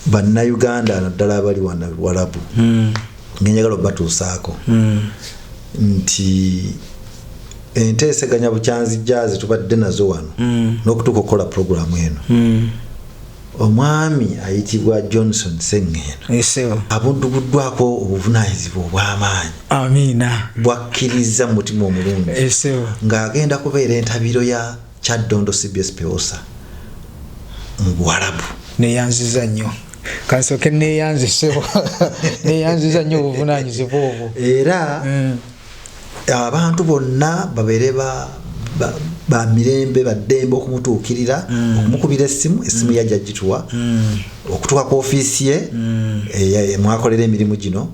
bannayuganda naddala abali walabu hmm. ngenjagala obatuusaako hmm. nti enteeseganya bukyanzijja zetubadde nazo wano hmm. n'okutuuka okukola pulogulaamu eno omwami ayitibwa johnson sengeeno abudduguddwako obuvunanyizibwa obw'amaanyi amiina bwakkiriza mu mutima omulungi ng'agenda kubeera entabiro ya Kyaddondo cbs Pewosa mu Buwarabu. Neyanziza nnyo kansooke neyanze ssebo neyanziza nnyo obuvunaanyizibwa obwo era mm. abantu bonna babeere ba ba mirembe baddembe okumutuukirira mm. okumukubira essimu essimu mm. yajja gituwa mm. okutuuka ku ofiisi ye eh, mwakolera emirimu gino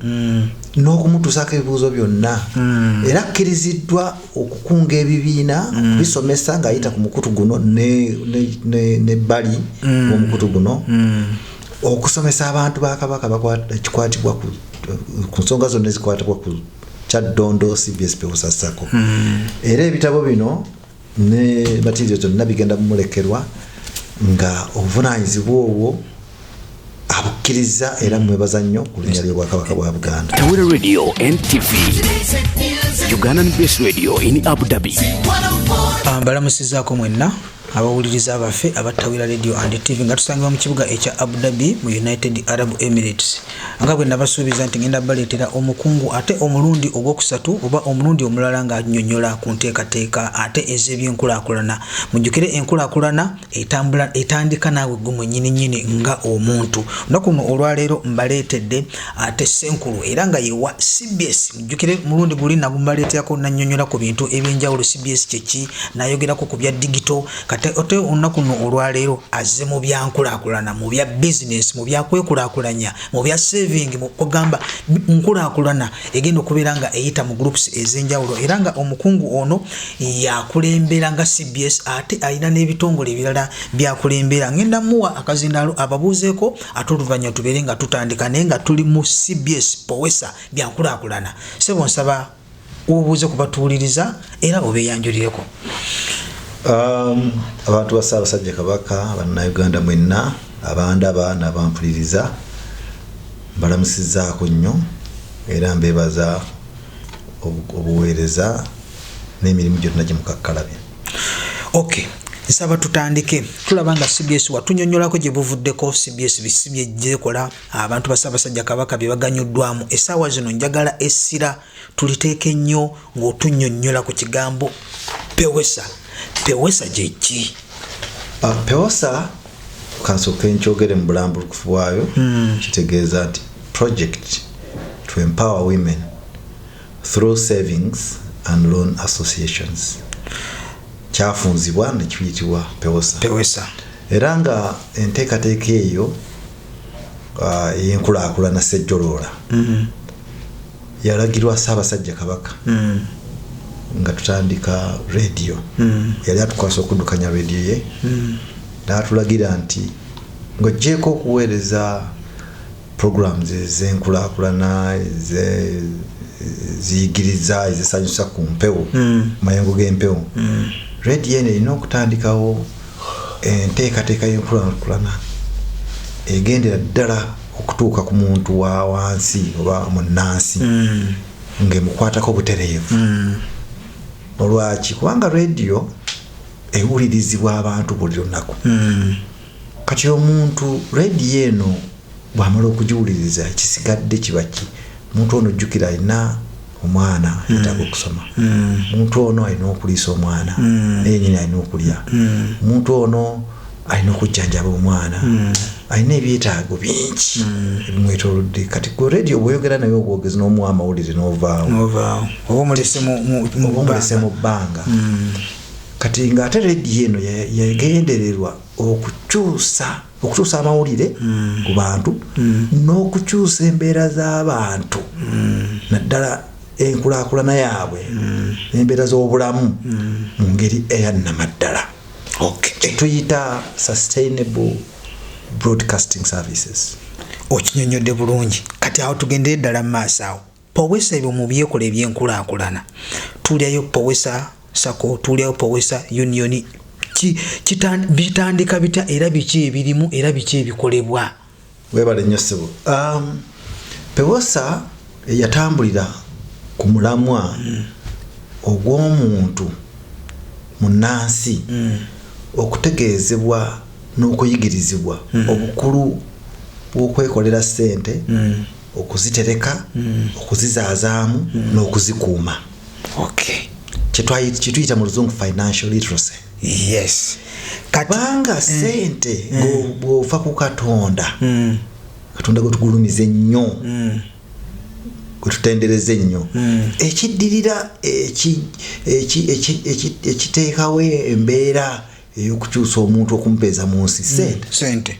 n'okumutuusaako ebibuuzo byonna era akkiriziddwa okukunga ebibiina mm. okubisomesa ng'ayita ku mukutu guno nebbali mm. womukutu guno mm. okusomesa abantu ba kabaka kikwatibwa ku nsonga zonna ezikwatibwa ku kyaddondo cbs peusasako era ebitabo bino ne matirio zonna bigenda mumulekerwa nga obuvunanyizibwa obwo abukkirizza era mmwebaza nnyo ku linnya ly'obwakabaka bwa buganda tawera radio ntv ugandan bas radio in abu dhabi ah, mbalamusizaako mwenna abawuliriza baffe abattawira radio and tv nga tusangibwa mu kibuga ekya abu dhabi mu united arab emirates nga bwe nabasuubiza nti ngenda baleetera omukungu ate omulundi ogwokusatu oba omulundi omulala ng'anyonyola ku nteekateeka ate ez'ebyenkulakulana mujjukire enkulakulana etambula etandika naawe gwe mwennyini nnyini nga omuntu lunaku luno olwaleero mbaleetedde ate senkulu era nga yewa cbs mujjukire mulundi guli nagu mbaleeterako nanyonyola ku bintu ebyenjawulo cbs kyeki nayogerako ku bya digito kati ote olunaku luno olwaleero azze mu byankulakulana mu bya bizinesi mu byakwekulakulanya mu bya saving ogamba nkulakulana egenda okubeera nga eyita mu groups ez'enjawulo era nga omukungu ono yakulembera nga cbs ate alina n'ebitongole ebirala byakulembera ngenda muwa akazindaalo ababuuzeeko ate oluvanyuma tubeere nga tutandika naye nga tuli mu cbs powesa byankulakulana sebo nsaba obuuze kubatuwuliriza era obeyanjulireko um, abantu ba saabasajja kabaka bannayuganda mwenna abandaba nabampuliriza mbalamusizaako nnyo era mbebaza obuweereza n'emirimu gyonna gye mukakkalabya okay nsaba tutandike tulaba nga cbs watunyonyolako gye buvuddeko cbs bisi byegyekola abantu basabasajja kabaka bye baganyuddwamu essaawa zino njagala essira tuliteeke nnyo ng'otunyonyola ku kigambo pewesa pewesa gyeki ah, pewesa kansooke nkyogere mu bulambulukufu bwayo hmm. kitegeeza nti project to empower women through savings and loan associations kyafunzibwa nekiyitibwa pewesa era nga enteekateeka eyo uh, eyenkulakulana sejjoloola hmm. yalagirwa Ssaabasajja Kabaka mm. nga tutandika rediyo mm. yali atukwasa okuddukanya rediyo ye mm. n'atulagira nti ng'oggyeeko okuweereza programs ez'enkulakulana ziyigiriza ezisanyusa ku mpewo mm. mayengo g'empewo mm. rediyo eno erina okutandikawo enteekateeka y'enkulakulana egendera ddala okutuuka ku muntu wa wansi oba munnansi mm. ng'emukwatako obutereevu mm. olwaki kubanga rediyo ewulirizibwa abantu buli lunaku mm. kati omuntu rediyo eno bwamala okugiwuliriza ekisigadde kibaki omuntu ono jjukira alina omwana mm. yetaaga mm. okusoma mm. omuntu mm. ono alina okuliisa omwana mm. naye nyini alina okulya mm. omuntu mm. ono alina okujjanjaba omwana mm. alina ebyetaago bingi mm. ebimwetolodde kati ku radio bwoyogera naye obwogezi n'omuwa amawulire n'ovaawo oba omulese mu bbanga mm. kati ng'ate radio eno yagendererwa okukyusa ya okukyusa amawulire mm. ku bantu mm. n'okukyusa embeera z'abantu mm. naddala enkulakulana yaabwe n'embeera z'obulamu mu ngeri eyannamaddala kyetuyita sustainable broadcasting services okinyonyodde bulungi kati awo tugendere ddala mu maaso awo powesa ebyo mubyekola ebyenkulakulana tulyayo powesa sako tulyayo powesa union bitandika bitya era biki ebirimu era biki ebikolebwa webale nyo sebo um, pewosa yatambulira ku mulamwa mm. ogw'omuntu munansi mm. okutegeezebwa n'okuyigirizibwa mm. obukulu bw'okwekolera sente mm. okuzitereka mm. okuzizaazaamu mm. n'okuzikuuma okay. kyetuyita mu luzungu financial literacy yes kubanga mm. sente mm. bwofa ku katonda mm. katonda gwetugulumiza ennyo mm. gwetutendereza ennyo mm. ekiddirira ekiteekawo embeera eyokukyusa omuntu okumpeeza mu nsi mm. sente mm.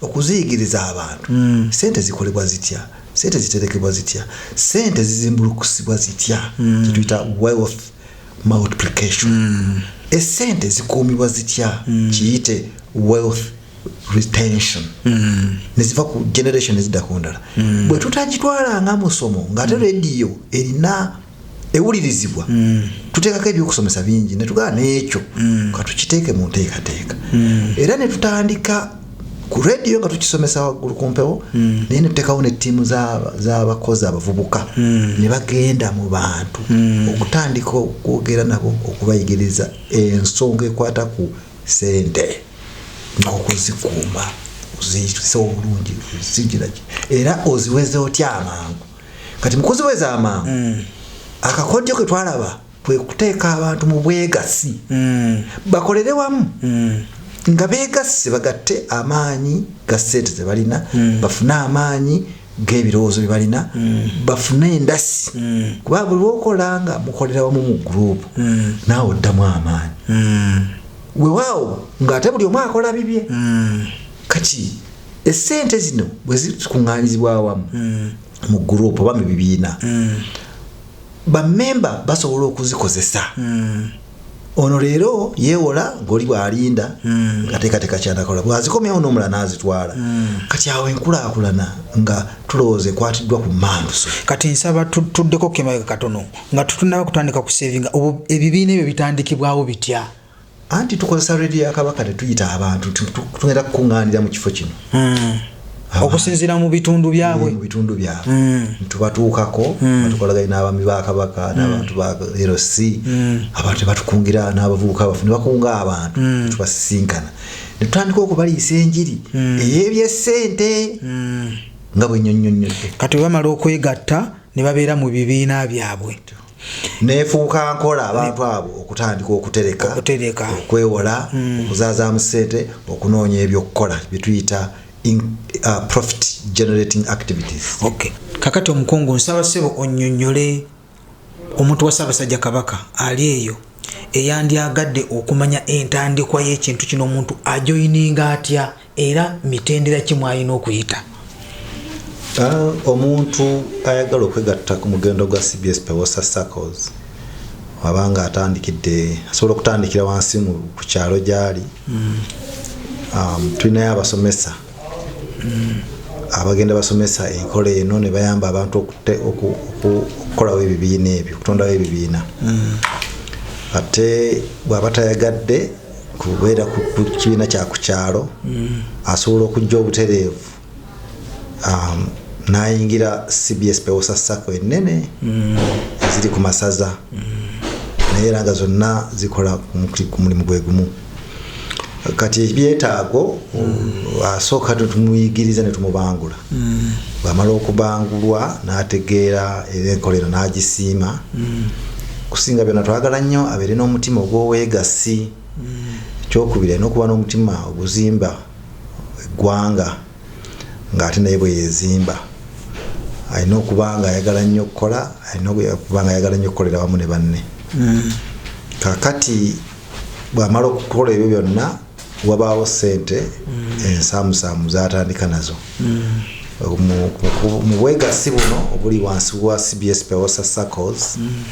Okuziyigiriza abantu, ssente zikolebwa zitya, ssente ziterekebwa zitya, ssente zizimbulukusibwa zitya, kye tuyita wealth multiplication. Essente zikuumibwa zitya, kiyite wealth retention, ne ziva ku generation ne zidda ku ndala. Bwe tutagitwala nga musomo, ng'ate leediyo erina ewulirizibwa mm. tuteekako ebyokusomesa bingi netugaa n'ekyo mm. katukiteeke mu nteekateeka mm. era netutandika ku rediyo nga tukisomesa waggulu ku mpewo mm. naye netuteekawo nettiimu z'abakozi abavubuka mm. ne bagenda mu bantu mm. okutandika okwogera nabo okubayigiriza ensonga ekwata ku sente n'okuzikuuma oziyisa obulungi ozijiraki era oziweze otya amangu kati mukozi wezamangu mm. akakodyo ke twalaba kwe kuteeka abantu mu bwegassi mm. bakolere wamu mm. nga beegasse bagatte amaanyi ga ssente ze balina mm. bafune amaanyi g'ebirowoozo bye balina mm. bafune endasi mm. kuba buli lwokola nga mukolera wamu mu guruupu mm. naawe oddamu amaanyi mm. wewaawo ng'ate buli omu akola bibye mm. kaki esente zino bwezikuŋŋanyizibwa awamu mm. mu gurupu oba mu bibiina mm. bamemba basobola okuzikozesa mm. ono leero yeewola ngoli bwalinda mm. ngateekateeka kyanakola bwazikomyawo n'omula n'azitwala mm. kati awo enkulaakulana nga tulowooza ekwatiddwa ku manduso kati nsaba tuddeko kemabega katono nga tutunaba kutandika kusevinga ebibiina ebyo bitandikibwawo bitya anti tukozesa radio ya kabaka tetuyita abantu tugenda kukuŋŋaanira mu kifo kino hmm. okusinziira mu bitundu byabwe mu bitundu byabwe hmm. tubatuukako hmm. batukolaganye n'abaami ba kabaka n'abantu ba rc abantu tebatukungira n'abavubuka bafe ne bakunga abantu tubasisinkana ne tutandika okubaliisa enjiri ey'ebyessente nga bwe nnyonnyonnyodde kati bwe bamala okwegatta ne babeera mu bibiina byabwe nefuuka nkola abantu abo okutandika okutereka okutereka okwewola mm. okuzazaamu sente okunoonya ebyokukola byetuyita uh, profit generating activities okay. kakati omukungu nsaba sebo onyonyole omuntu wa ssaabasajja kabaka ali eyo eyandyagadde okumanya entandikwa y'ekintu kino omuntu ajoyininga atya Era mitendera ki mwalina okuyita? Omuntu ayagala okwegatta ku mugendo gwa cbs Pewosa Saccos waba nga atandikidde asobola okutandikira wansi ku kyalo gyali hmm. um, tulinayo abasomesa hmm. abagenda basomesa enkola eno ne bayamba abantu okukolawo ebibiina ebyo okutondawo ebibiina mm. ate bwaba tayagadde kubeera ku kibiina kya ku kyalo mm. asobola okujja obutereevu um, n'ayingira cbs pewosa sacco ennene mm. eziri ku masaza mm. naye era nga zonna zikola ku mulimu gwe gumu kati ebyetaago asooka tetumuyigiriza ne tumubangula Bw'amala okubangulwa n'ategeera era enkola eno n'agisiima, okusinga byonna twagala nnyo abeere n'omutima ogw'obwegassi. Ekyokubiri alina okuba n'omutima oguzimba eggwanga ng'ate naye bwe yeezimba. Alina okuba ng'ayagala nnyo okukola, alina okuba ng'ayagala nnyo okukolera awamu ne banne. Kaakati bw'amala okukola ebyo byonna wabaawo sente mm. ensaamusaamu zatandika nazo mm. mu bwegassi buno obuli wansi wa cbs peosa circles mm.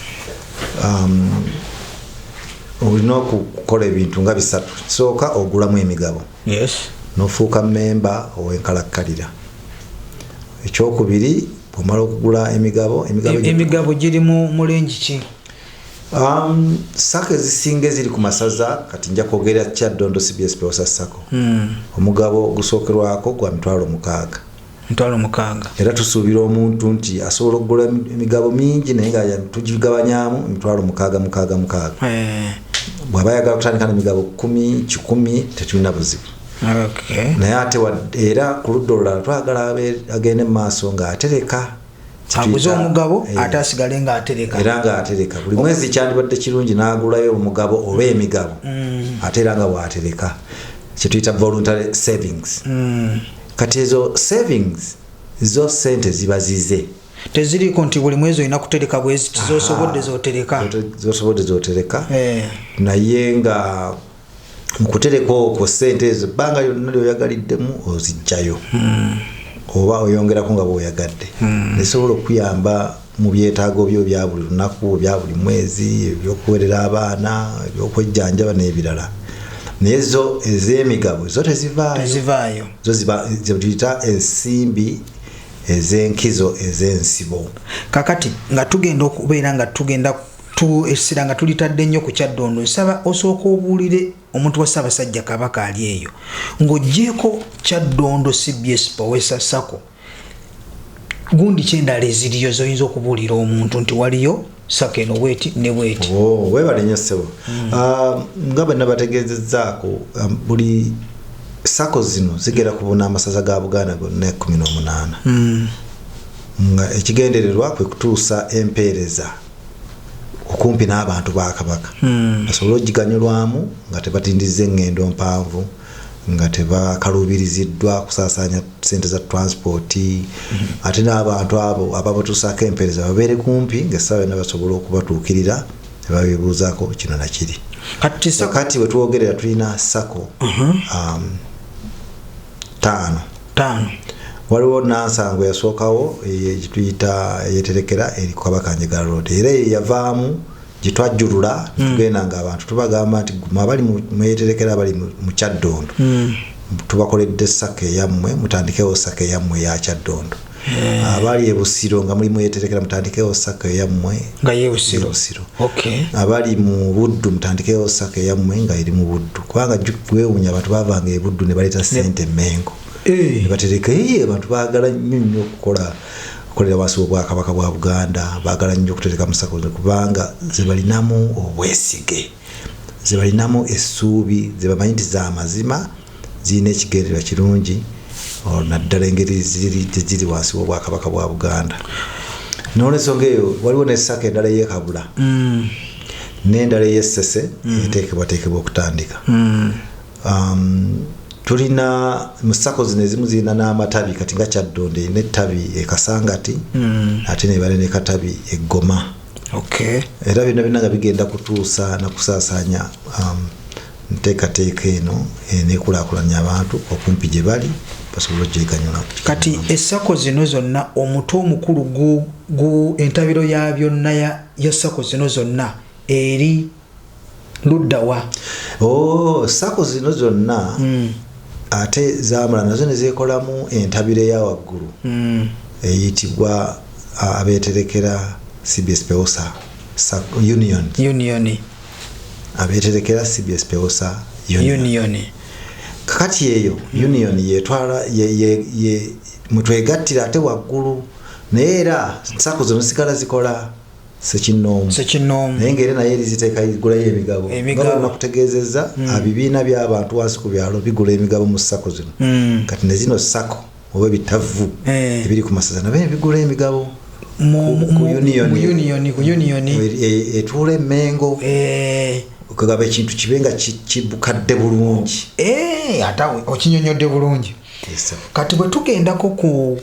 um, olina okukola ebintu nga bisatu kisooka ogulamu emigabo nofuuka memba owenkalakkalira ekyokubiri bwomala okugula emigabo emigabo giri mu mulengi ki Um, sako ezisinga eziri ku masaza kati nja kwogerera kyaddondo cbs peosa sako mm. omugabo ogusookerwako gwa mitwalo mukaaga mitwalo mukaaga era tusuubira omuntu nti asobola okugula emigabo mingi naye nga tugigabanyamu emitwalo mukaaga mukaaga mukaaga eh. bwaba ayagala kutandika nemigabo kumi kikumi tetulina buzibu okay. naye ate era ku ludda olulala twagala agende mu maaso ng'atereka aguze omugabo eh. ate asigale ng'atereka era ng'atereka buli mwezi kyandibadde kirungi n'agulayo omugabo oba mm. emigabo mm. ate era nga waatereka kyetuyita voluntary savings mm. kati ezo savings zo sente ziba zize teziriiko nti buli mwezi olina kutereka bweziti zosobodde zotereka zosobodde zotereka eh. naye nga mukutereka okwo sente ezo ebbanga lyonna lyoyagaliddemu ozijjayo hmm. oba oyongerako nga bwoyagadde hmm. nesobola okukuyamba mu byetaago byo bya buli lunaku bya buli mwezi ebyokuwerera abaana ebyokwejjanjaba n'ebirala naye zo ez'emigabo zo tezivaayo zo zituyita ensimbi ez'enkizo ez'ensibo kakati nga tugenda okubeera nga tugenda essira nga tulitadde nnyo ku kyaddondo nsaba osooka obuulire omuntu wa ssaabasajja kabaka ali eyo ng'ogyeko kyaddondo cbs powesa sako gundi kyendala eziriyo zoyinza okubuulira omuntu nti waliyo sako eno bweti ne bweti oh, webale nyo ssebo hmm. ah, nga bwe nabategeezezzaako um, buli sako zino zigera kubuna amasaza ga buganda gonna ekumi n'omunaana hmm. nga ekigendererwa kwe kutuusa empeereza okumpi n'abantu ba kabaka hmm. basobole okugiganyulwamu nga tebatindizza eŋŋendo mpanvu nga tebakaluubiriziddwa kusaasaanya sente za transport hmm. ate n'abantu abo ababatuusaako empeereza babeere kumpi ngaessaawa yonna basobola okubatuukirira nebabibuuzaako kino nakiri kati wetwogerera tulina sako hmm. um, taano taano waliwo nansango yasookawo gyetuyita eyeterekera eri kukabaka njega road era eyo yavaamu gyetwajjulula hmm. tugenda nga abantu tubagamba nti abali mweyeterekera abali mu kyaddondo hmm. tubakoledde saka eyammwe mutandikewo saka eyammwe eyakyaddondo Eh. abali ebusiro nga mulimu yeterekera mutandikewo saka eyammwe nga yebusiro abali mu buddu mutandikewo saka eyammwe nga eri mu buddu kubanga gwewunya abantu bavanga ebuddu ne baleeta sente mengo eh. nebatereka eye abantu bagala nnyo nnyo okukola okukolera wansi wobwakabaka bwa buganda bagala nnyo okutereka musako kubanga zebalinamu obwesige ze balinamu essuubi, ze bamanyi nti za mazima, zirina ekigendererwa kirungi olwo naddala engeri gye ziri wansi w'Obwakabaka bwa Buganda. N'olwensonga eyo waliwo ne ssaka endala ey'e Kabula mm. n'endala ey'e Ssese mm. eteekebwateekebwa okutandika. Mm. Um, tulina mu ssako zino ezimu zirina n'amatabi kati nga Kyaddondo erina ettabi e Kasangati mm. ate nebale ne katabi e Goma. okay. era byonna byonna nga bigenda kutuusa na kusaasaanya um, nteekateeka eno enekulakulanya abantu okumpi gye bali basobole ogyeganyula kati essako zino zonna omutu omukulu gu entabiro ya byonna ya ssako zino zonna eri luddawa oh, sako zino zonna mm. ate zamala nazo nezekolamu entabiro eyawaggulu mm. eyitibwa abeterekera cbs peosa union union abeterekera cbs peosa union kakati eyo mm. union yetwala mutwegattira ate waggulu naye era sako zino zikala zikola sekinnoomu sekinnoomu naye ng'era naye eriziteeka igulayo emigabo emigabo nakutegeezezza mm. abibiina by'abantu wansi ku byalo bigula emigabo mu sako zino mm. kati ne zino sako oba ebitavvu eh. ebiri ku masaza nabo ebigula emigabo etuula emengo eh. okugaba ekintu kibe nga kibukadde bulungi eh, ate okinyonyodde bulungi kati bwe tugendako ku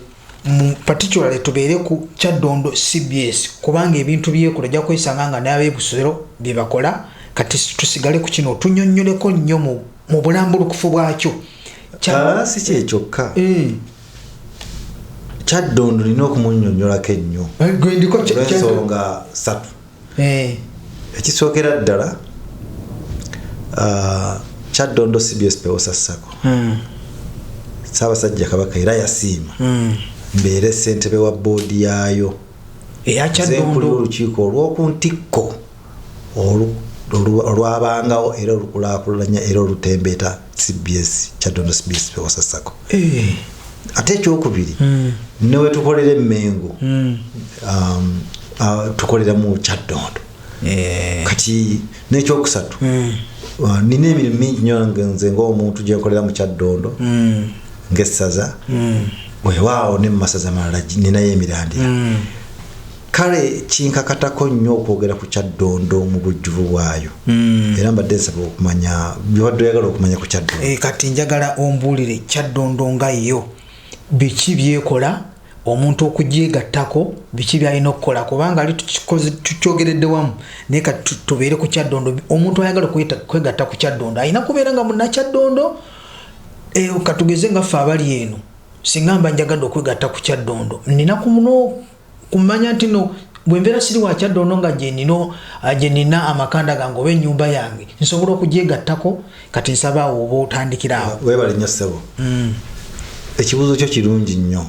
mu particularly tubeere ku kyaddondo cbs kubanga ebintu byekola ojja kwesanga nga n'abebusero bye bakola kati tusigale ku kino tunyonnyoleko nnyo mu bulambulukufu bwakyo ah, si kye kyokka eh. kyaddondo olina okumunyonnyolako ennyo eh, gwendiko ensonga satu eh. ekisookera ddala ah, kyaddondo cbs pewosa sako hmm. saabasajja kabaka era yasiima hmm. mbeere ssentebe wa boodi yaayo eyakyaddondo olukiiko olw'oku ntikko olwabangawo era olukulakulanya era olutembeeta cbs kyadondo cbs pewosa sako eh. ate ekyokubiri mm. newetukolera emengo mm. um, uh, tukolera mu kyadondo eh. kati nekyokusatu mm. uh, nina emirimu mingi nyo nze ngaomuntu gyenkolera mu kyadondo mm. ngaessaza mm. wewaawo ne mumasaza malala ninayo emirandira mm. kale kinkakatako nnyo okwogera ku kyaddondo mu bujjuvu bwayo hmm. era mbadde nsaba okumanya byobadde oyagala okumanya ku kyaddondo eh, kati njagala ombuulire kyaddondo nga yo biki byekola omuntu okugyegattako biki byalina okukola kubanga ali tukyogeredde wamu naye kati tubeere ku kyaddondo omuntu ayagala kwegatta ku kyaddondo alina kubeera nga munakyaddondo eh, katugeze nga ffe abali eno singa mba njagadde okwegatta ku kyaddondo nina ku muno kumanya nti no bwembeera siri wa kyaddondo nga gyenina ah, amakanda gange oba ennyumba yange nsobola okugyegattako kati nsaba awo oba otandikira awo webale nnyo ssebo mm. ekibuuzo kyo kirungi nnyo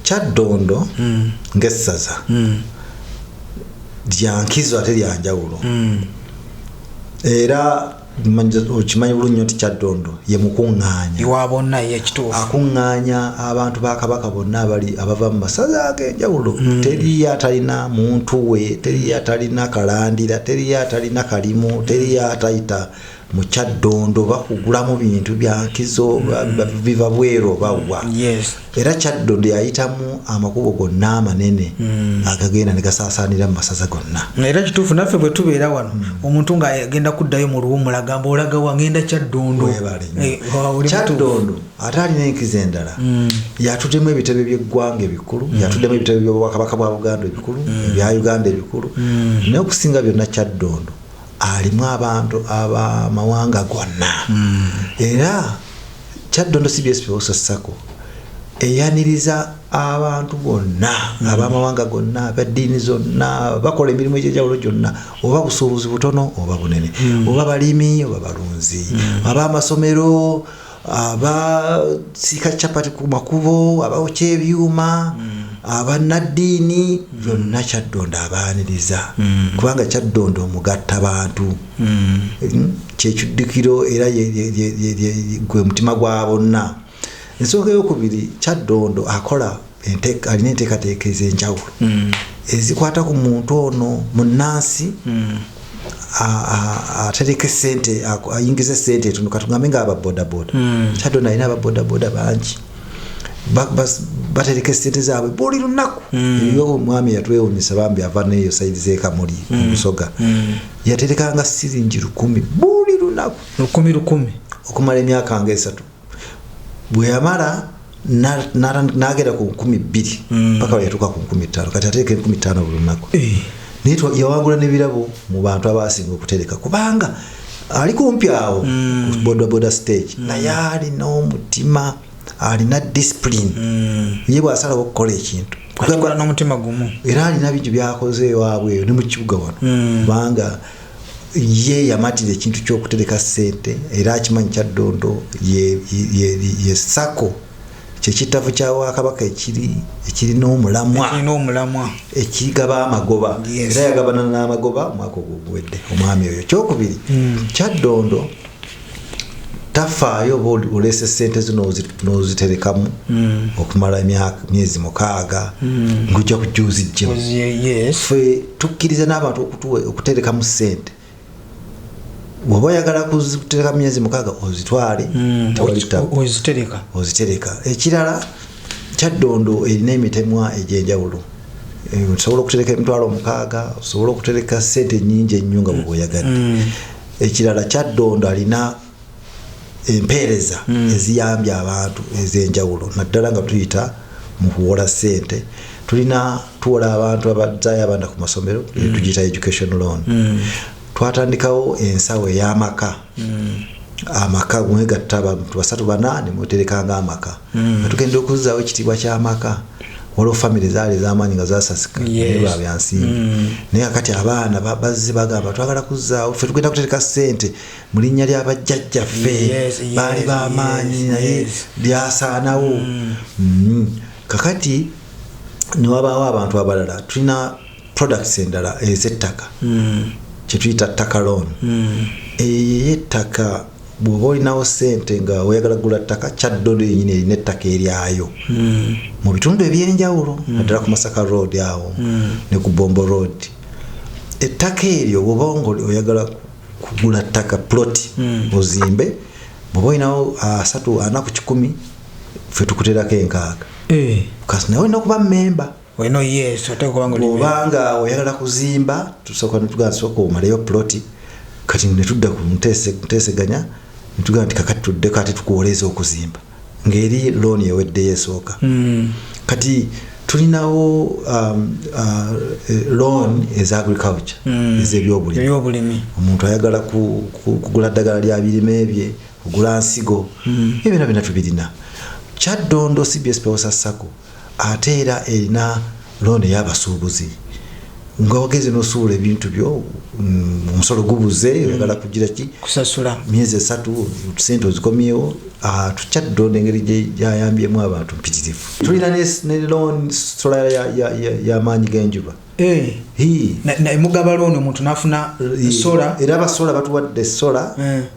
kyaddondo mm. ng'essaza mm. lyankizo ate lyanjawulo era okimanyi bulungi nti kyaddondo ye mukuŋŋaanya iwa bonna ye ekituufu akuŋŋaanya abantu ba kabaka bonna abali abava mu masaza ag'enjawulo mm. teriyo atalina muntu we teriyo atalina kalandira teriyo atalina kalimu teriyo atayita mu kyaddondo bakugulamu bintu byankizo mm. biva bweru oba wa era kyaddonde yayitamu amakubo gonna amanene hmm. agagenda ne gasaasaanira mu masaza gonna era kituufu naffe bwe tubeera wano hmm. omuntu ng'agenda kuddayo mu luwumula gamba olaga wangenda kyaddondokyaddondo eh, ate alina enkizo endala hmm. yatuddemu ebitebe by'eggwanga ebikulu yatuddemu ebitebe by'obwakabaka bwa buganda ebikulu ebya uganda ebikulu naye okusinga byonna kyaddondondo alimu abantu abamawanga gonna era Kyaddondo cbs Pewoso Sacco eyaniriza abantu bonna mm. abamawanga gonna abaddiini zonna bakola emirimu egyenjawulo gyonna oba busuubuzi butono oba bunene mm. oba balimi oba balunzi mm. aba amasomero abasiika capati ku makubo abaokya ebyuma abanaddiini byonna kyaddondo abaaniriza kubanga kyaddondo omugatta bantu hmm. kyekiddukiro era gwe mutima gwa bonna ensonga eyokubiri kyaddondo akola alina enteekateeka ez'enjawulo hmm. ezikwata ku muntu ono munnansi hmm. atereka esente ayingiza esente etono katugambe nga ababodaboda kyaddondo alina ababodaboda bangi batereka esente zaabwe buli lunaku mm. eyo omwami yatwewunyisa bambi ava neyo saidi zekamuli mm. omusoga mm. yaterekanga siringi lukumi buli lunaku lukumi lukumi okumala emyaka nga esatu bwe yamala nagenda ku nkumi bbiri mm. paka weyatuuka ku nkumi ttaano kati ateeka enkumi ttaano buli lunaku eh. naye yawangula n'ebirabo mu bantu abasinga okutereka kubanga ali kumpi awo mm. ku bodaboda stage mm. naye alina omutima alina discipline ye bwasalawo okukola ekintu akola n'omutima gumu era alina bingi byakoze ewaabwe eyo ne mu kibuga wano hmm. kubanga ye yamatira ekintu ky'okutereka ssente era akimanyi kya ddondo ye sako kyekittavu kya wakabaka ekiri ekirina omulamwa ekigaba amagoba era yagabana n'amagoba omwaka ogwo guwedde omwami oyo kyokubiri hmm. kyaddondo tafaayo oba oleese sente zo noziterekamu mm. okumala emyaka myezi mukaaga mm. ngujja kujja ozijjemu fe tukkiriza n'abantu okuterekamu sente woba oyagala kutereka myezi mukaaga ozitwale mm. ozitereka ekirala kyaddondo erina emitemwa egyenjawulo eh, osobola okutereka emitwalo omukaaga osobola okutereka sente nyingi ennyo nga bweoyagadde ekirala kyaddondo alina empeereza hmm. eziyambye abantu ez'enjawulo naddala nga tuyita mu kuwola ssente tulina tuwola abantu abazaayo abaana ku masomero hmm. tugiyita education loan hmm. twatandikawo ensawo ey'amaka amaka mwegatta abantu basatu bana ne mweterekanga amaka mm. nga tugenda okuzzaawo ekitiibwa ky'amaka waliwo famiry zaali ezamaanyi nga zasasika ba byansimbi mm. naye kakati abaana bazze bagamba twagala kuzzaawo ffe tugenda kutereka ssente mu linnya lya bajjajjaffe baali bamaanyi naye byasaanawo mm. kakati newabaawo abantu abalala tulina products endala ezettaka mm. kyetuyita ttaka loan mm. eyo ettaka bwoba olinawo sente nga oyagala gula ttaka kyaddodo yenyini erina ettaka eryayo mm. mu bitundu ebyenjawulo mm. naddala ku masaka road awo mm. ne ku bombo road ettaka eryo bwoba nga oyagala kugula ttaka plot mm. ozimbe bwoba olinawo ah, asatu ana ku kikumi fe tukuterako enkaaga eh. kasi nawe olina okuba memba weno yes oteeka kubanga oli bw'oba nga oyagala kuzimba tusooka netugamba sooka omaleyo ploti kati netudda ku nteese- nteeseganya netugamba nti kakati tuddeko ate tukuwoleeza okuzimba ng'eri looni eweddeyo esooka Mm. kati tulinawo um, uh, eh, loan eza agriculture Mm. ezebyobulimi ebyobulimi omuntu ayagala ku- ku- kugula ddagala lya birime bye kugula nsigo Mm. ebyo byona byona tubirina kyaddondo cbs pewosa sacco Ate era erina loan eyabasuubuzi nga wagenze nosuula ebintu byo mm, omusolo gubuze mm. oyagala mm. kugira ki kusasula myezi esatu sente ozikomyewo ah, tukyadonda engeri gyayambyemu abantu mpitirivu tulina ne loan sola yamaanyi genjuba eh. mugaba loan omuntu nafuna eh, sola era abasola batuwadde sola eh.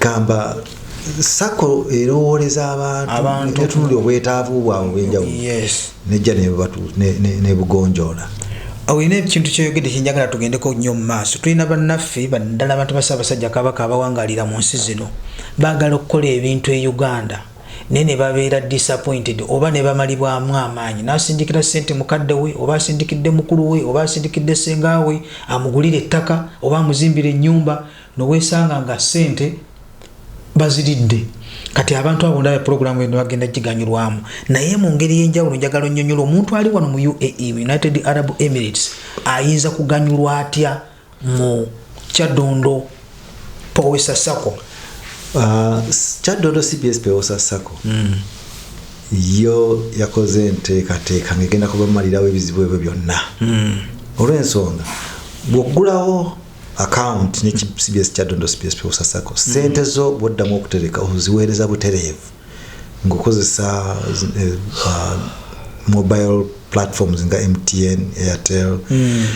gamba sako erowooleza abantu netunuli obwetaavu bwabwe obwenjawulo nejja nebugonjoola olina ekintu kyoyogedde kyenjagala tugendeko nnyo mu maaso tulina bannaffe baddala abantu basaabasajja kabaka abawangalira mu nsi zino baagala okukola ebintu e uganda naye ne babeera disappointed oba ne bamalibwamu amaanyi n'asindikira ssente mukadde we oba asindikidde mukulu we oba asindikidde ssenga we amugulire ettaka oba amuzimbire ennyumba nowesanga nga sente baziridde kati abantu abo ndaba pulogulaamu eno bagenda giganyulwamu naye mu ngeri y'enjawulo njagala onnyonyola omuntu ali wano mu uae united arab emirates ayinza kuganyulwa atya mu kyadondo powesa sako uh, kyadondo cbs powesa sako hmm. yo yakoze enteekateeka ngegenda kubamalirawo ebizibu ebyo byonna hmm. olw'ensonga bw'oggulawo account ne cbs kyadondo cbs pewosa sako sente mm. zo bwoddamu okutereka oziweereza butereevu ngaokozesa eh, uh, mobile platforms nga mtn airtel mm.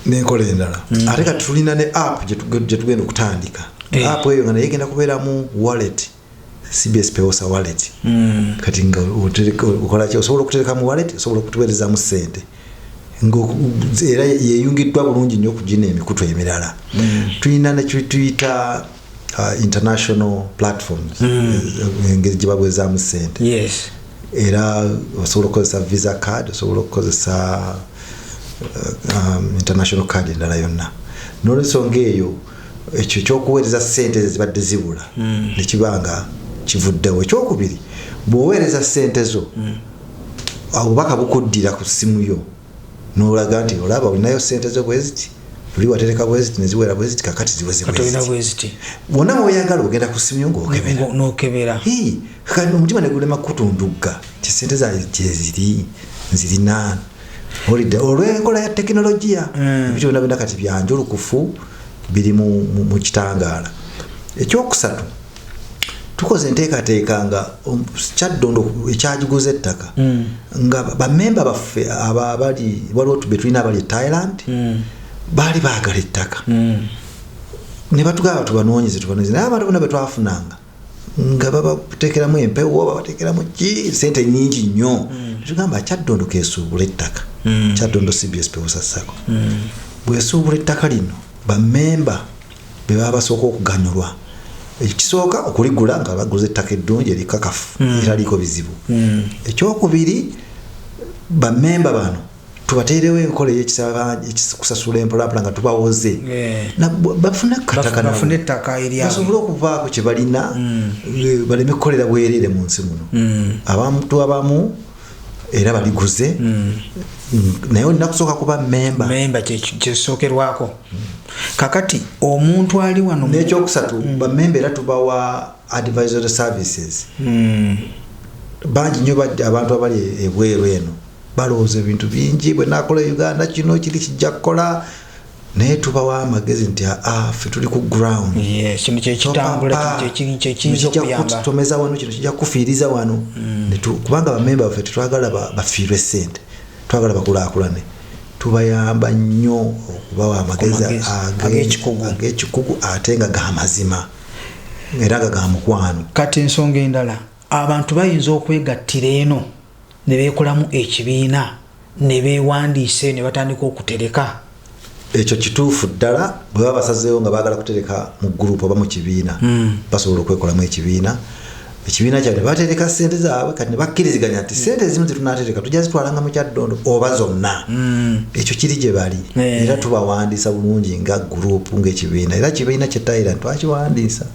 nenkola endala mm. ate kati tulina ne app gyetugenda okutandika eh. app eyo nga naye egenda kubeeramu wallet mm. cbs pewosa wallet mm. kati nga okolaki osobola okutereka mu wallet osobola okutuwerezamu sente era yeyungiddwa bulungi nnyo okugina emikutu emirala mm. tulina nekituyita uh, international platforms mm. eh, engeri gyebabwezamu sente era osobola okukozesa visa card osobola okukozesa uh, um, international card endala yonna nolwensonga eyo ekyo ekyokuweereza sente ezo zibadde zibula mm. nekiba nga kivuddewo ekyokubiri bwoweereza sente zo mm. obubaka bukuddira ku ssimu yo nolaga nti olaba olinayo sente zo bweziti oli watereka bweziti neziwera bweziti kakati ziwezibweziti wona woyagala ogenda ku ssimu yo ngaokebera omutima negulema kutundugga ti sente zange gyeziri nzirina olidde olw'enkola ya tekinologiya eh. ebintu byona byona kati byanjulukufu biri mu kitangaala ekyokusatu tukoze enteekateeka nga um, kyaddondo ekyagiguza ettaka hmm. nga bamemba baffe abali waliwo tube tulina abali e thailand hmm. baali baagala ettaka hmm. ne batugamba tubanoonyeze tubanoonyeze naye abantu bona betwafunanga nga babatekeramu empewo babatekeramu ki sente nyingi nnyo mm. tugamba kyaddondo kesuubula ettaka mm. kyaddondo cbs pewosa sako mm. bwesuubula ettaka lino bamemba bebaba basooka okuganyulwa ekisooka okuligula nga baguza ettaka eddungi erikakafu mm. eraliiko bizibu mm. ekyokubiri bamemba bano tubateerewo enkola eyekusasula empolapula nga tubawoze eh. bafune akatakabafune ettaka eryabasobole okuvaako kye balina mm. eh, baleme kukolera bwereere mu nsi muno mm. abantu abamu era baliguze mm. naye olina kusooka kuba memba memba kyesookerwako kakati omuntu ali wano nekyokusatu bamemba era tubawa advisory services bangi nyo abantu abali ebweru eno balowooza ebintu bingi bwe nakola e uganda kino kiri kijja kukola naye tubawa amagezi nti aa ah, ah, fe tuli ku ground tomeza wano kino kijja kufiiriza wano mm. kubanga bamemba baffe tetwagala bafiirwe sente twagala bakulakulane tubayamba nnyo okubawa amagezi agekikugu ate nga gamazima era nga gamukwano kati ensonga endala abantu bayinza okwegattira eno ne beekolamu ekibiina ne beewandiisa eyo ne batandika okutereka. Ekyo kituufu ddala. Bwe baba basazeewo nga baagala kutereka mu gguruupu oba mu kibiina, hmm. basobola okwekolamu ekibiina ekibiina kyabwe ne batereka ssente zaabwe kati ne bakkiriziganya nti ssente ezimu ze tunaatereka tujja zitwalanga mu kyaddondo oba zonna hmm. ekyo kiri gye bali eh. era tubawandiisa bulungi nga guruupu ng'ekibiina era kibiina kye tayira twakiwandiisa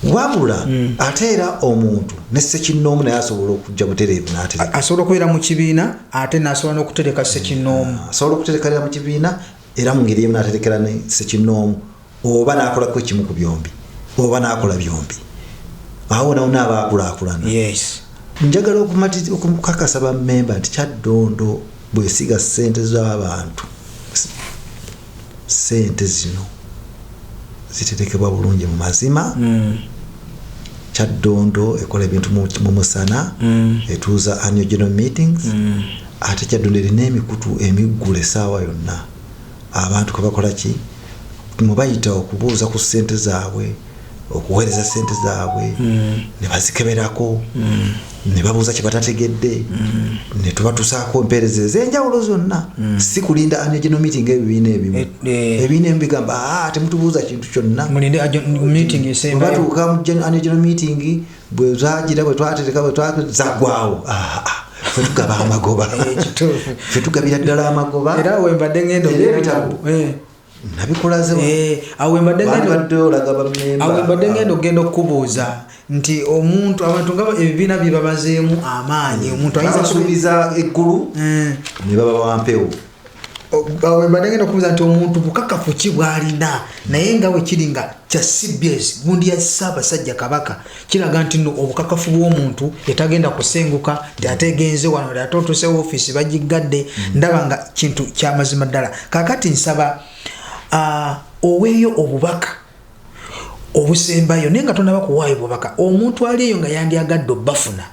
wabula mm. ate era omuntu ne sekinnoomu naye asobola okujja butereevu natereka asobola okubeera mu kibiina ate nasobola n'okutereka sekinnoomu mm. asobola okuterekanira mu kibiina era mu ngeri emu naterekera ne sekinnoomu oba nakolako ekimu ku byombi oba nakola byombi awo nawo naaba akulakulana njagala okukakasa bamemba nti kyaddondo bwesiga sente z'abantu Ssente zino ziterekebwa bulungi mu mazima. Kyaddondo ekola ebintu mu musana, etuuza Annual General Meetings, ate Kyaddondo erina emikutu emiggule essaawa yonna abantu kwe bakola ki? mwe bayita okubuuza ku ssente zaabwe. okuweereza sente zaabwe mm. ne bazikeberako mm. ne babuuza kye batategedde mm. ne tubatusaako empeereza ez'enjawulo zonna si kulinda anegeno meeting ebibiina ebimu eh, eh. ebibiina ebimu bigamba ah, temutubuuza kintu kyonnabatuuka anegeno meeting bwe zagira bwe twatereka bwe zagwawo ah, ah. fetugaba amagoba eh, fetugabira ddala amagoba era wembadde ngendo ebitabu Eh, awo mbadde ngenda okugenda okukubuuza nti omuntu abantu nga ebibiina bye babazeemu amaanyi omuntu ayinzasuubiza eggulu eh. ne baba bampewo awo mbadde ngenda okubuuza nti omuntu bukakafu ki bwalina naye nga wekiri nga kya cbs gundi ya ssaabasajja kabaka kiraga nti no obukakafu bw'omuntu yetagenda kusenguka nti ate egenze wano ti ate otuuse ofiisi bagiggadde mm. ndaba nga kintu kyamazima ddala kakati nsaba uh, oweeyo obubaka obusembayo naye nga tonaba kuwaayo bubaka omuntu ali eyo nga yandyagadde obafuna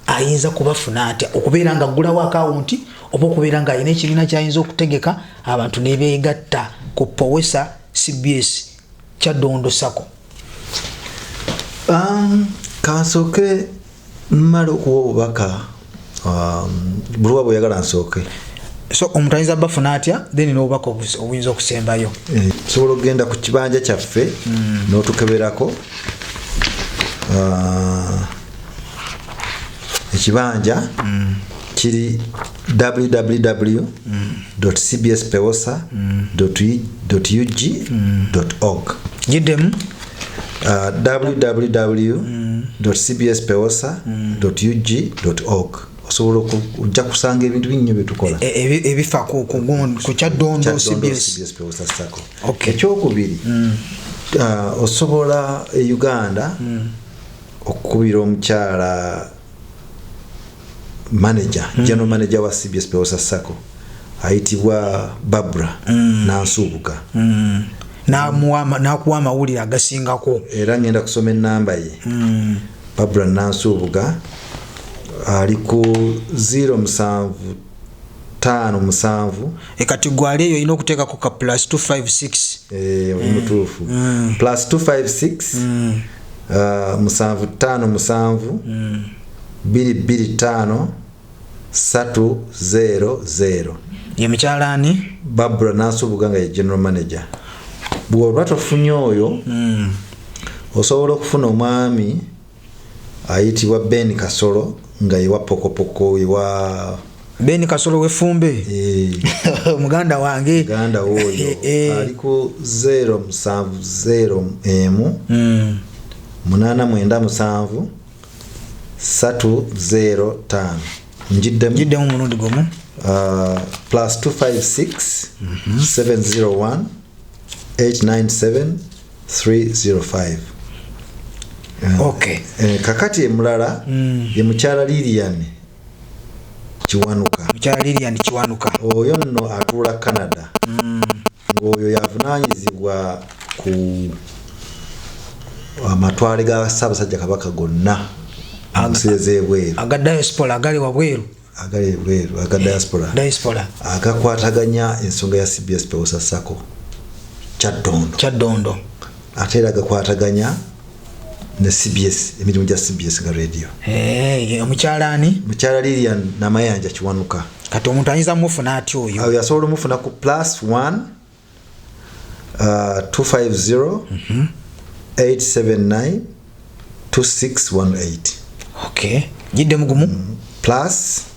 ayinza kubafuna atya okubeera nga aggulawo akawunti oba okubeera nga alina ekibiina kyayinza okutegeka abantu nebeegatta ku powesa cbs kyaddondo sako um, kansooke mmala okuwa obubaka um, buluwa bweyagala nsooke so omuntu ayinza bafuna atya then nobubaka obuyinza okusembayo eh, sobola okugenda ku kibanja kyaffe hmm. notukeberako uh, ekibanja hmm. kiri www.cbspeosa.ug.org gidemu uh, www.cbspeosa.ug.org osobola ojja kusanga ebintu binnyo byetukola e, e, e, ebifa ku kyaddondo ekyokubiri mm. uh, osobola e uganda mm. okukubira omukyala manager mm. general manager wa cbs peosa sacco ayitibwa babra mm. nansuubuka mm. nakuwa amawulire agasingako era ngenda kusoma enamba ye mm. babra nansuubuga ali ku 0 musanvu tano musanvu ekati gwali eyo olina okuteekako ka plus 256 eh, oli mutuufu mm. mm. plus 256 mm. uh, musanvu tano musanvu mm. 225 300 ye mukyala ani babula nasubuga nga ye general manager bwoba tofunye oyo mm. osobola okufuna omwami ayitibwa ben kasolo nga yewa pokopoko ewa ben kasolo wefumbe eh. muganda wange muganda woyo eh, eh. aliko 0 musanvu 0 emu mm. munana mwenda musanvu satu zero taano njiddemu njiddemu mulundi gumu uh, plus 256 701 897 305 okay Eh, kakati emulala Mm. ye mukyala lilian kiwanuka mukyala lilian kiwanuka oyo nno atuula canada Mm. ng'oyo y'avunaanyizibwa ku amatwale ga ssaabasajja kabaka gonna ensi ez'ebweru aga diaspora agali wabweru agali ebweru aga diaspora diaspora agakwataganya ensonga ya cbs pewosa sako kyaddondo kyaddondo ate era gakwataganya ne cbs emirimu gya cbs nga radio eh, omukyala ani mukyala lilian namayanja kiwanuka kati omuntu ayinza mufuna atya oyo awo yasobola omufuna ku plus 1 250 879 2618 ok jidde mugumu mm, plus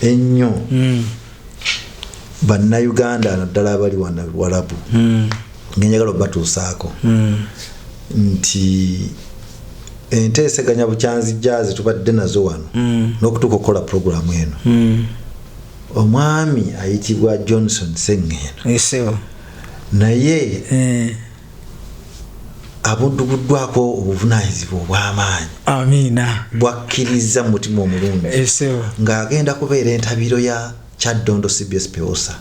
ennyo hmm. bannayuganda naddala abali wana walabu hmm. ngenjagala obatuusaako hmm. nti enteeseganya bukyanzijja ze tubadde nazo wano n'okutuuka okukola puroguramu eno omwami ayitibwa johnson sengeeno naye eh. abuddubuddwako obuvunanyizibwa obw'amaanyi amiina bwakkirizza mu mutima omulungi ng'agenda kubeera entabiro ya kyaddondo cbs peosa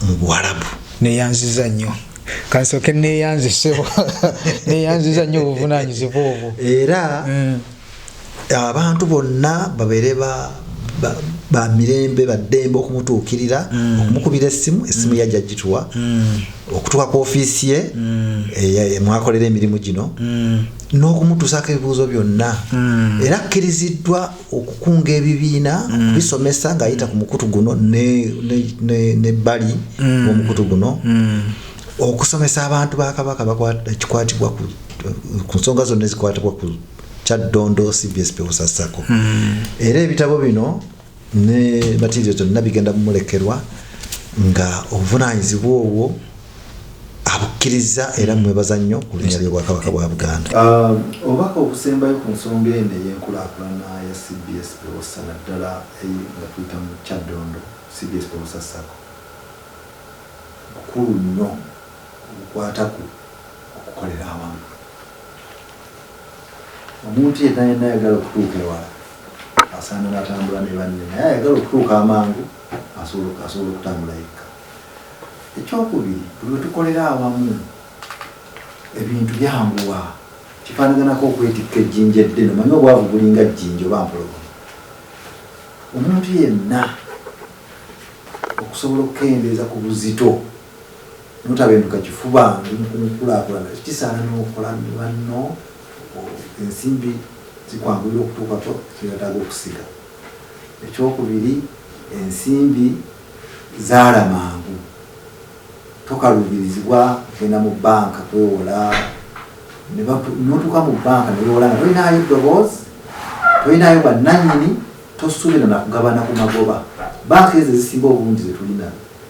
mu buwalabu neyanziza nnyo kansoke neyanziseo neyanziza nnyo obuvunanyizibwa obwo era mm. abantu bonna babeere ba ba mirembe baddembe okumutuukirira mm. okumukubira essimu essimu mm. yajja gituwa mm. okutuuka ku ofiisi ye eh, mwakolera emirimu gino n'okumutuusaako ebibuuzo byonna era akkiriziddwa okukunga ebibiina okubisomesa ng'ayita ku mukutu guno nebbali omukutu guno okusomesa abantu ba kabaka ekikwatibwa ku nsonga zonna ezikwatibwa ku kyaddondo cbs pewosa sako hmm. era ebitabo bino ne matirio gyonna bigenda mumulekerwa nga obuvunanyizibwa obwo abukkiriza era mwebaza nnyo ku linnya ly'obwakabaka bwa buganda ah, obubaka obusembayo ku nsonga eno ey'enkulaakulana ya cbs pewosa naddala nga tuyita mu kyaddondo cbs pewosa sako bukulu nnyo obukwata ku okukolera awamu omuntu yenna yenna ayagala okutuuka ewala asaana natambula ne banne naye ayagala okutuuka amangu asobola okutambula yekka ekyokubiri buli wetukolera awamu ebintu byanguwa kifanaganako okwetikka ejjinja eddene omanye obwavu bulinga jjinja oba mpologo omuntu yenna okusobola okukendeeza ku buzito notabenduka kifuba ndi mukunkulakulana kisaana nokola nebanno ensimbi zikwanguyira okutuukako kyewetaaga okusiga ekyokubiri ensimbi zaala mangu tokaluubirizibwa kugenda mu banka kwewola notuuka mu banka newewola nga tolinaayo ddoboozi tolinaayo bwannanyini tosuubira nakugabana ku magoba banka ezo ezisinga obungi zetulina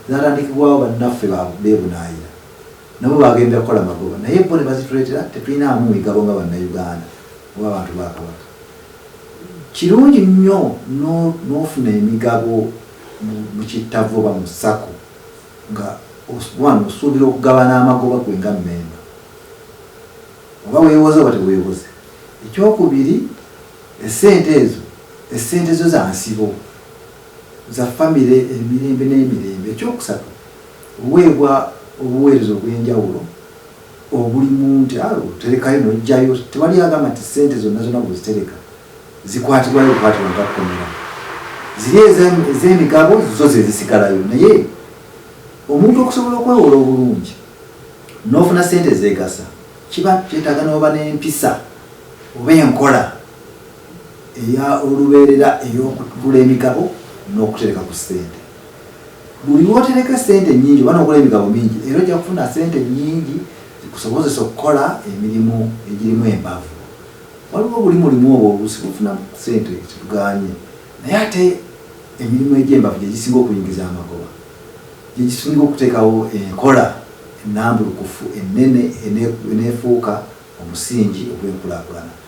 Zaatandikibwawo bannaffe b'ebunaayira nabo baagenderera kukola magoba naye bo ne bazituleetera tetulinaamu migabo nga Bannayuganda oba abantu ba Kabaka. Kirungi nnyo n'ofuna emigabo mu kittavvu oba mu sacco nga wano osuubira okugabana amagoba gwe nga mmemba oba weewoze oba teweewoze. Ekyokubiri essente ezo essente zo za nsibo. za famire emirembe n'emirembe. Eky'okusatu, oweebwa obuweereza obw'enjawulo obulimu nti a oterekayo n'oggyayo, tewali agamba nti ssente zonna zonna bw'ozitereka zikwatibwayo bukwatibwa nga kkomera. Ziri ez'emigabo zo ze zisigalayo naye omuntu okusobola okwewola obulungi n'ofuna ssente ezeegasa kiba kyetaaga n'oba n'empisa oba enkola. eya olubeerera ey'okugula emigabo n'okutereka ku ssente. Buli lw'otereka essente ennyingi oba n'ogula emigabo mingi era ojja kufuna ssente nnyingi zikusobozese okukola emirimu egirimu embavu. Waliwo buli mulimu oba oluusi gufunamu ssente kitugaanye naye ate emirimu egy'embavu gye gisinga okuyingiza amagoba, gye gisinga okuteekawo enkola ennambulukufu ennene eneefuuka omusingi ogw'enkulaakulana.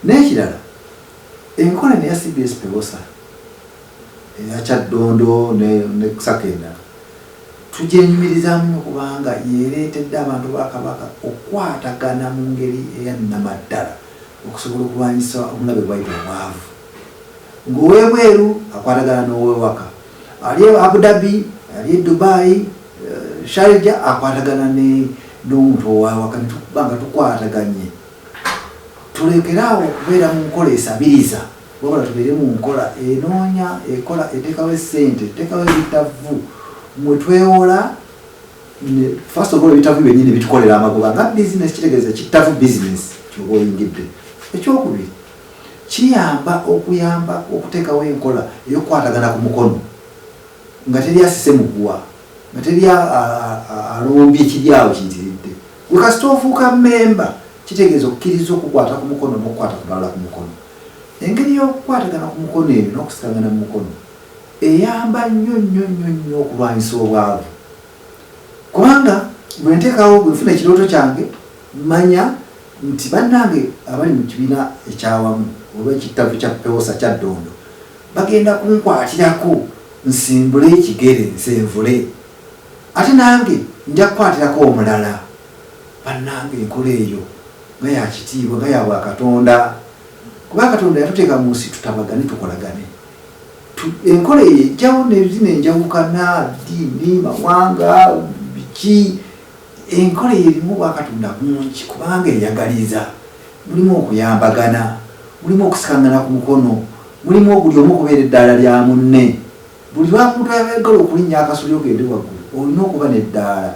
N'ekirala enkola eno eya cbs Pewosa, eya Kyaddondo ne ne sacco endala tugyenyumirizaamu nnyo kubanga y'ereetedde abantu ba Kabaka okukwatagana mu ngeri eya nnamaddala okusobola okulwanyisa omulabe bw'ayita obwavu. Ng'ow'ebweru akwatagana n'ow'ewaka, ali e Abu Dhabi, ali e Dubai, Sharjah akwatagana ne n'omuntu ow'awaka ne tuba nga tukwataganye tulekere awo okubeera mu nkola esabiriza wabula tubeere mu nkola enoonya ekola etekawo esente etekawo ebitavu mwetwewola first of all ebitavu byenyini bitukolera amagoba nga bizinesi kitegeeza kittavu bizinesi kyoba oyingidde ekyokubiri kiyamba okuyamba okuteekawo enkola eyokukwatagana ku mukono nga teri asise muguwa nga teri alombye ekiryawo kiyitiridde Gwe kasita ofuuka mmemba kitegeeza okukkiriza okukwata ku mukono n'okukwata ku balala ku mukono. Engeri y'okukwatagana ku mukono eyo n'okusikangana mu mukono eyamba nnyo nnyo nnyo nnyo okulwanyisa obwavu. Kubanga bwe nteekawo bwe nfuna ekirooto kyange manya nti bannange abali mu kibiina ekyawamu oba ekittavu kya pewosa kya ddondo bagenda kunkwatirako nsimbule ekigere nsenvule. Ate nange nja kukwatirako omulala. Bannange, enkola eyo nga ya kitiibwa, nga ya bwakatonda! Kuba Katonda yatuteeka mu nsi tutabagane, tukolagane. Tu, enkola eyo ejjawo ne zino enjawukana, ddiini, mawanga, biki. Enkola eyo erimu obwakatonda bungi kubanga eyagaliza. Mulimu okuyambagana, mulimu okusikangana ku mukono, mulimu obuli omu okubeera eddaala lya munne. Buli lwamuntu ayagala okulinnya akasolya ogende waggulu olina okuba n'eddaala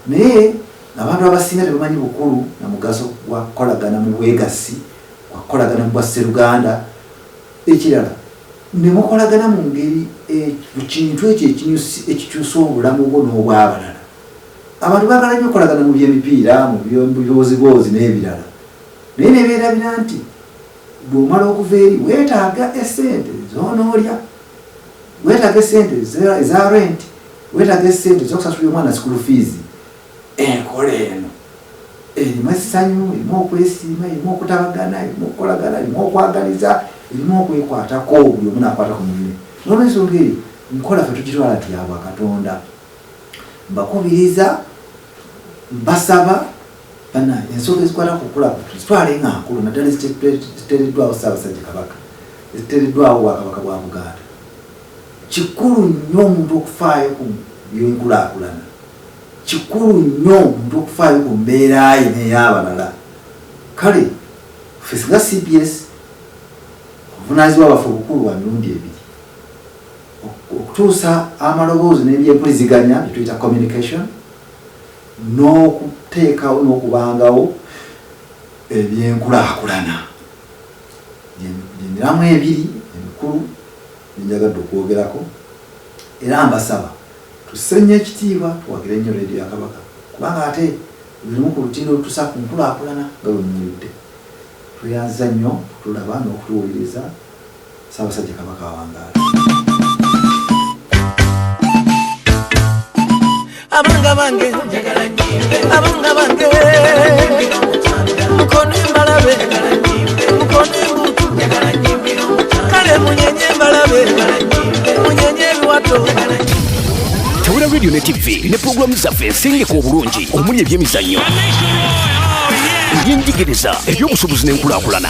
naye abantu abasinga tebamanyi bukulu na mugaso gwa kukolagana mu bwegassi, gwa kukolagana mu bwa sseruganda. Ekirala ne mukolagana mu ngeri mu kintu ekyo ekikyusa obulamu bwo n'obwabalala. Abantu baagala nnyo okukolagana mu by'emipiira, mu bibooziboozi n'ebirala naye ne beerabira nti bw'omala okuva eri weetaaga essente z'onoolya. weetaaga esente eza rent weetaaga esente ezokusasulira omwana sikulu fiizi enkola eno erimu essanyu erimu okwesiima erimu okutabagana erimu okukolagana erimu okwagaliza erimu okwekwatako buli omu nakwata ku munne nolwensonga eyo nkola fe tugitwala nti yabwa katonda mbakubiriza mbasaba Bannange ensonga ezikwata ku kukula abantu zitwale nga nkulu naddala eziteereddwawo Ssaabasajja Kabaka, eziteereddwawo Obwakabaka bwa Buganda. Kikulu nnyo omuntu okufaayo ku by'enkulaakulana, kikulu nnyo omuntu okufaayo ku mbeera ye n'ey'abalala. Kale ffe singa cbs obuvunaanyizibwa bwaffe obukulu bwa mirundi ebiri, okutuusa amaloboozi n'ebyempuliziganya bye tuyita communication, n'okuteekawo n'okubangawo ebyenkulaakulana gyemiramwa ebiri emikulu gyenjagadde okwogerako era mbasaba tusse nnyo ekitiibwa tuwagire nnyo leediyo ya Kabaka kubanga ate lulimu ku lutindo olutusa ku nkulaakulana nga bwe muwulidde tweyanziza nnyo okutulaba n'okutuwuliriza Ssaabasajja Kabaka awangaale. Abanga bange abanga bange mukone mbalabe mukone mbutu kale munyenye mbalabe munyenye ebiwato tawula radio ne tv ne pulogulaamu zaffe ensengeka obulungi omuli ebyemizannyo ebyenjigiriza ebyobusuubuzi n'enkulaakulana